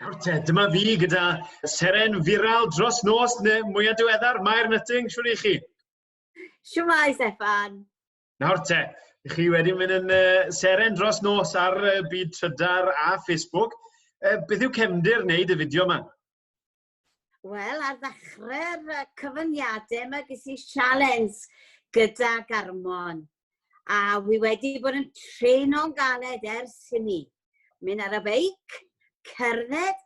Nawr te, dyma fi gyda seren viral dros nos neu mwyaf diweddar, Mair Nutting, siwr i chi? Siwmai, Stefan. Nawr te, chi wedi mynd yn uh, seren dros nos ar uh, byd trydar a Facebook. Uh, beth yw cefndir wneud y fideo yma? Wel, ar ddechrau'r uh, cyfyngiadau yma ges i sialens gyda Garmon. A wi wedi bod yn treno'n galed ers hynny. Mynd ar y beic, cerdded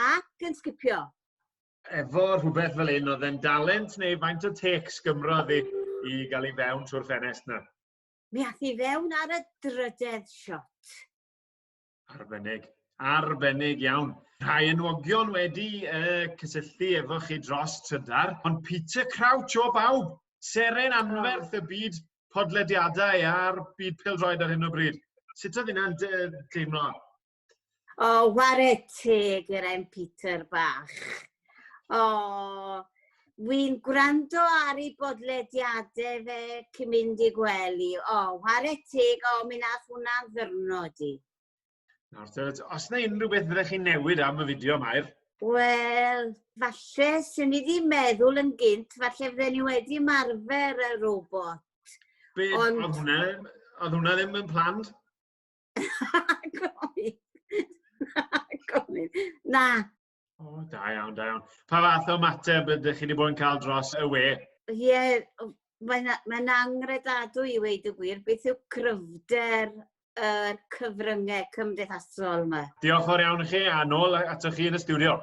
ac yn sgipio. Efo rhywbeth fel un oedd e'n dalent neu faint o tecs Gymro i, i gael ei fewn trwy'r ffenest na? Mi ath i fewn ar y drydedd shot. Arbennig. Arbennig iawn. Rhai enwogion wedi uh, cysylltu efo chi dros trydar, ond Peter Crouch o bawb, seren anferth y byd podlediadau a'r byd pildroed ar hyn o bryd. Sut oedd hynna'n teimlo? O, wared teg i'r ein Peter bach. O, wy'n gwrando ar ei bodlediadau fe cyn mynd i gwely. O, whare teg, o, mi nath hwnna'n ddyrnod i. Nawr, os yna unrhyw beth fyddech chi'n newid am y fideo, Mair? Wel, falle, sy'n ni ddim meddwl yn gynt, falle fydden ni wedi marfer y robot. Be, Ond... oedd hwnna, oedd hwnna ddim yn planned? Na, gofyn. Na, O, da iawn, da iawn. Pa fath o mateb ydych chi wedi bod yn cael dros y we? Ie, yeah, mae'n mae angredadwy i weid y gwir. Beth yw gryfder y cyfryngau cymdeithasol yma? Diolch o'r iawn i chi, a nôl atoch chi yn y studio.